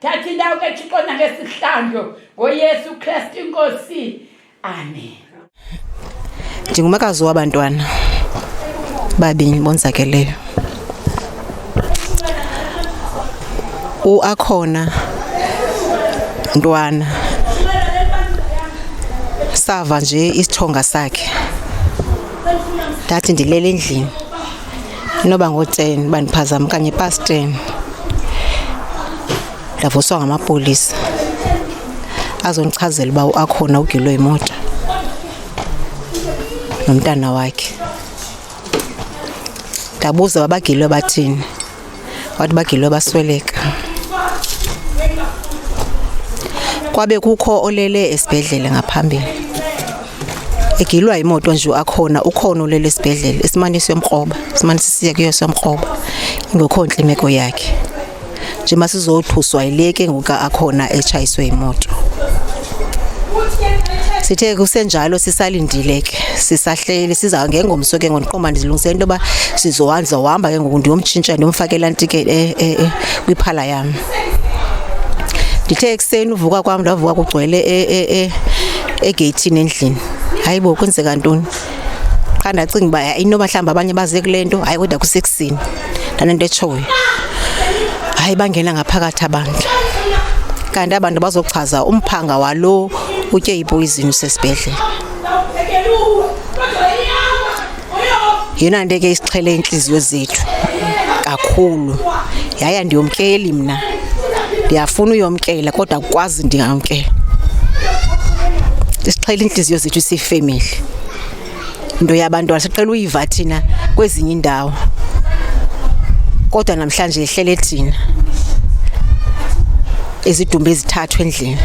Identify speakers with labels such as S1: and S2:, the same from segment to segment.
S1: thatha indawo kethixo nangesihlandlo ngoyesu kristu inkosi amen ndingumakazi
S2: wabantwana babini bonzakeleyo uakhona ntwana sava nje isithonga sakhe ndathi ndilele endlini inoba ngotseni uba ndiphazama okanye ipasteni ndavuswa ngamapolisa azondichazela uba akhona ugilwe yimoto nomntana wakhe ndabuza babagilwe bathini wathi bagilwe basweleka kwabe kukho olele esibhedlele ngaphambili egilwa imoto nje akhona ukhona ulele esibhedlele esimane siyomkroba simane sisiya kuyo siyomkroba ingekho ntle imeko yakhe nje masizothuswa yile ke ngoku akhona etshayiswe imoto sithe kusenjalo sisalindile ke sisahleli siza ngengomso ke ngondiqoma ndizilungise into yoba sizohanza uhamba ke ngoku ndiyomtshintsha ndiyomfakela ntike eh, eh, eh, kwiphala yam ndithe ekuseni uvuka kwam ndavuka kugcwele egeyithini e, e, endlini hayi bo kwenzeka ntoni qha ndacinga uba hayi inoba mhlawumbi abanye baze kule nto hayi kodwa kusekusini ndanento etshoyo hayi bangena ngaphakathi abantu kanti abantu bazochaza umphanga walo utye ipoyizini usesibhedlele yeyona nto ke isixhele iintliziyo zethu kakhulu yaye andiyomkeli mna ndiyafuna uyomkela kodwa kukwazi ndingamkela isixhele iintliziyo zethu siyifemeli into yabantwana siqela uyiva thina kwezinye iindawo kodwa namhlanje ihlele thina izidumbu ezithathu endlini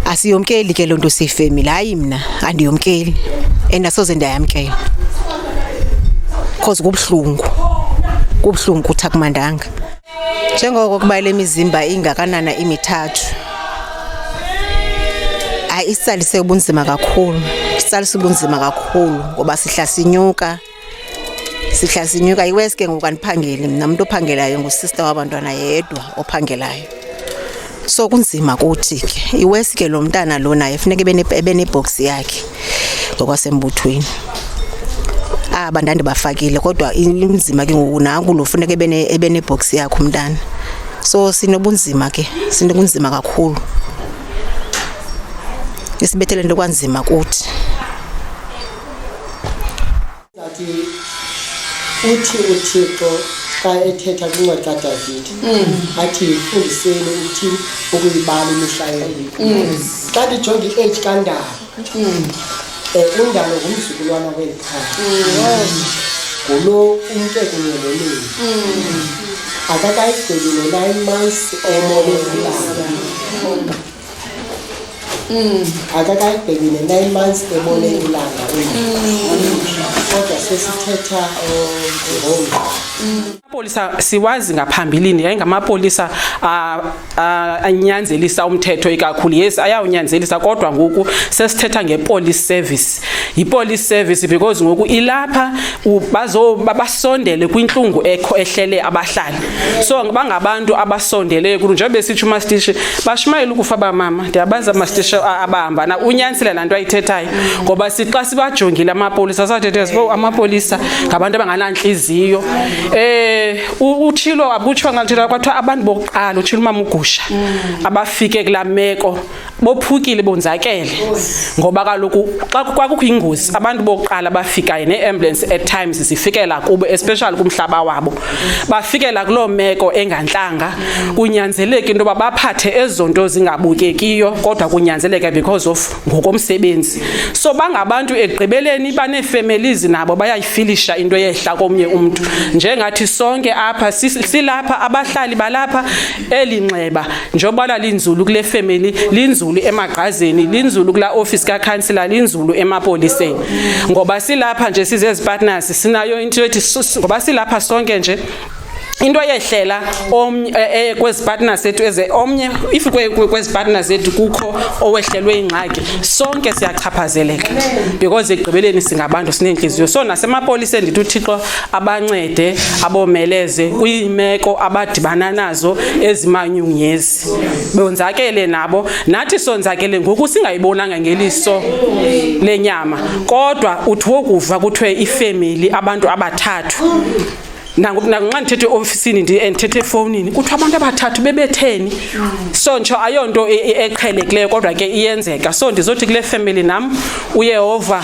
S2: asiyomkeli ke loo nto siyifemile hayi mna andiyomkeli and asoze ndayamkela because kubuhlungu kubuhlungu kuthi akumandanga njengoko kuba le mizimba ingakanana imithathu ayisalise ubunzima kakhulu sisalise ubunzima kakhulu ngoba sihla sinyuka sihla sinyuka iwesi ke ngoku andiphangeli mna mntu ophangelayo ngusista wabantwana yedwa ophangelayo so kunzima kuthi ke iwesi ke lo mntana lo naye funeka ebenebhoksi yakhe ngokwasembuthweni aba ndandibafakile kodwa inzima ke ngoku nanku lo funeka ebenebhoksi yakhe umntana so sinobunzima ke sinobunzima kakhulu isibethele nto kwanzima kuthi Ngathi
S3: uthi uThixo xa ethetha kwincwadi kaDavide athi yifundiseni uthini ukuyibala imihla yenu. Xa ndijonga i-age kandalo um undalo ngumzukulwana weli khaya ngulo umke kunye nonini akakayigqibi no-nine months emolezilanga Mm. akakayibheki ne-nine months ebone mm. ilanga mm. kodwa sesithetha um, amapolisa
S4: siwazi ngaphambilini yayingamapolisa anyanzelisa umthetho ikakhulu yes ayawunyanzelisa kodwa ngoku sesithetha ngepolice service yipolice service because ngoku ilapha basondele kwintlungu ekho ehlele abahlali so bangabantu abasondeleyo kulo njengoba besitsho umastishi bashumayela ukufa bamama ndiyabazi amastishi abahamba na unyanisile laa nto ayithethayo ngoba sixa sibajongile amapolisa sathethe sibo amapolisa ngabantu abanganantliziyo um utshilo abutshwa ngaluthetha kwathiwa abantu bokuqala utshilo umama ugusha abafike kulaa meko bophukile bonzakele ngoba kaloku xa kwakukho ingozi abantu bokuqala bafikayo nee-ambulance at times zifikela kubo especially kumhlaba wabo bafikela kuloo meko engantlanga kunyanzeleka into yoba baphathe ezo nto zingabukekiyo kodwa kunyanzeleka because of ngokomsebenzi so bangabantu ekugqibeleni baneefemelizi nabo bayayifilisha into yehla komnye umntu njengathi sonke apha silapha abahlali balapha eli nxeba njengoba lalinzulu kule family linzulu emagqazeni linzulu kula office kakhansila linzulu emapoliseni ngoba silapha nje sizezipartners sinayo into ethi ngoba silapha sonke nje into eyehlela omnye eh, eh, kwezi partner sethu eze omnye if kwezi partner zethu kukho owehlelwe ingxaki sonke siyachaphazeleka because ekugqibeleni singabantu sinentliziyo so nasemapoliseni ndithi uthixo abancede abomeleze kwiimeko abadibana nazo ezimanyunyezi bonzakele nabo nathi sonzakele ngoku singayibonanga ngeliso lenyama kodwa uthi wokuva kuthiwe ifemeli abantu abathathu nanxa ndithethe eofisini ndithethe efowunini kuthiwa abantu abathathu bebetheni so ntsho ayonto e-, e-, eqhelekileyo kodwa ke iyenzeka so ndizothi kule family nam uyehova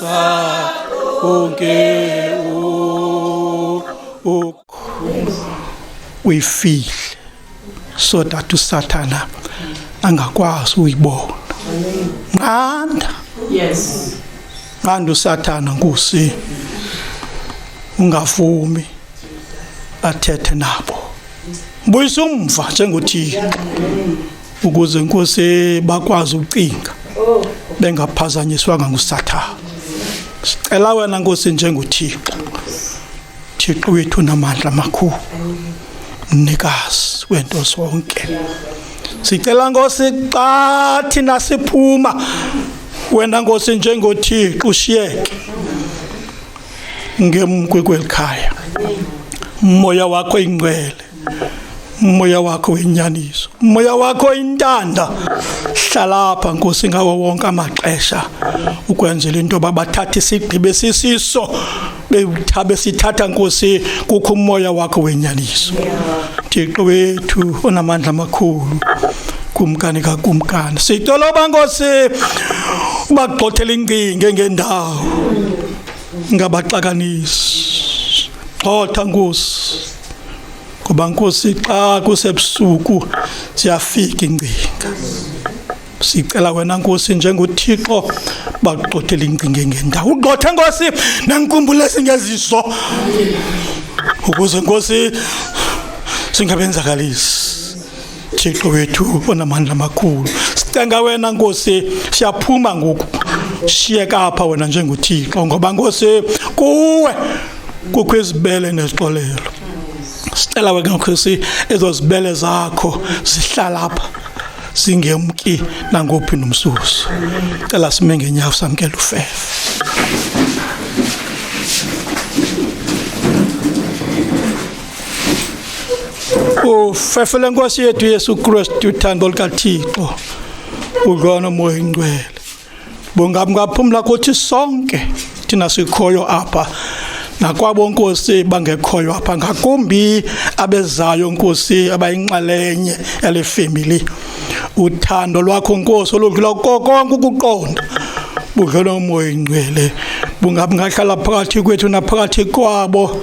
S5: uyifihle so that usathana angakwazi uyibona nqanda
S4: yes nqanda
S5: usathana nkosi ungavumi athethe nabo buyisa umva njengothixo ukuze inkosi bakwazi ukucinga bengaphazanyiswanga ngusathana sicela wena nkosi njengothixo thixo wethu namandla amakhulu mnikazi wento zonke sicela nkosi xa thina siphuma wena nkosi njengothixo ushiyeke ngemkwekwelikhaya umoya wakho ingcwele umoya wakho wenyaniso umoya wakho oyintanda hlalapha nkosi ngawo wonke amaxesha ukwenzela into yoba bathathe isigqibo esisiso bewuthabe sithatha nkosi kukho umoya wakho wenyaniso thixo wethu onamandla amakhulu kumkani kakumkani sitoloba nkosi ubagxothela incinge ngendawo ngabaxakanisi xotha nkosi ngoba nkosi xa kusebusuku ziyafika ingcinga sicela wena nkosi njengothixo bakugxothele ingcinga ngendawo ugxothe nkosi nenkumbulo esingeziso ukuze nkosi singabenzakalisi Thixo wethu onamandla amakhulu sicenga wena nkosi siyaphuma ngoku shiyeka apha wena njengothixo ngoba nkosi kuwe kukho izibele nezixolelo sicela wena nkosi ezo zibele zakho zihlala apha singemki nangophi nomsusu cela sime ngenyawo samkela ufefe ufefele nkosi yethu yesu kristu uthando lukathixo udlwana moya ingcwele bungamngaphumla kuthi sonke thina sikhoyo apha nakwabo nkosi bangekhoyo apha ngakumbi abezayo nkosi abayinxalenye yale family uthando lwakho nkosi oludlula kokonke ukuqonda budlona umoya ingcwele bungabi ngahlala phakathi kwethu naphakathi kwabo